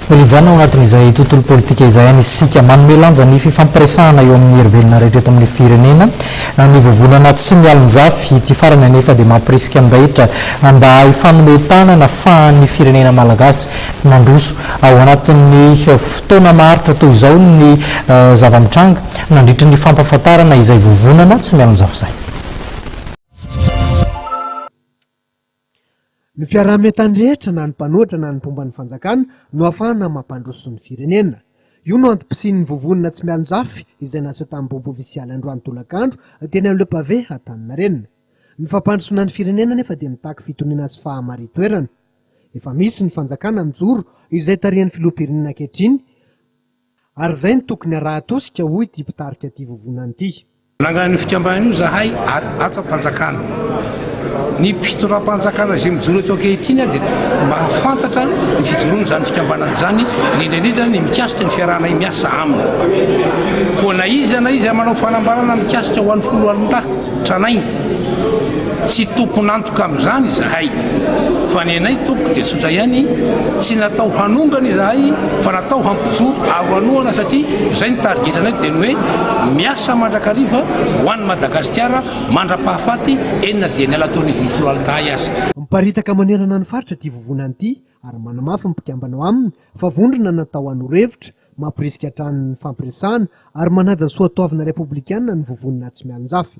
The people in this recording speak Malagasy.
Mijanona ao anatin'izay tontolo politika izay any isika. Manome lanja ny fifampiresahana eo amin'ny hery velona rehetra eto amin'ny firenena ny vovonana tsy mialonjafy. Ity farany anefa dia mampirisika ny rehetra mba hifanome tanana fahan'ny firenena malagasy mandroso ao anatin'ny fotoana maharitra toy izao ny zava-mitranga nandritry ny fampahafantarana izay vovonana tsy mialonjafy izay. Ny fiaraha-mientany rehetra na ny mpanohitra na ny mpomba ny fanjakana no ahafahana mampandroso ny firenena. Io no antom-pisian'ny vovonana tsy mialon-jafy izay naseho tamin'ny bobo ofisialy androany tolakandro teny amin'ireo pavé Antaninarenina. Ny fampandrosoana ny firenena anefa dia mitaky fitoniana sy fahamarin-toerana. Efa misy ny fanjakana mijoro izay tarihan'ny filoham-pirenena ankehitriny Ary izay no tokony harahan-tosika, hoy ity mpitarika ity vovonana ity. Nanangana an'io fikambanana io izahay ary hatsam-panjakana. Ny mpitondram-panjakana izay mijoro eto ankehitriny dia mahafantatra ny fijoroan'izany fikambanana izany, indrindra indrindra ny mikasika ny fiarahanay miasa aminy. Koa na iza na iza manao fanambarana mikasika ho an'ny foloalindahy, Tranainy, Tsy tompon'antoka amin'izany izahay, fa ny anay tompoko dia tsotra ihany, tsy natao hanongana izahay fa natao hampijoro aro hanohana satria izay ny tarigetranay dia ny hoe miasa mandrakariva ho an'i Madagasikara mandra-pahafaty enina dian'ny Alatoanivon'ny Foloalitahay aza. Miparitaka manerana ny faritra ity vovonana ity ary manamafy ny mpikambana ao aminy fa vondrona natao hanolora hevitra Mampirisika hatrany ny fampiresahana ary manaja ny soatoavina repoblikana ny vovon'ny Natsi-Mialonjafy.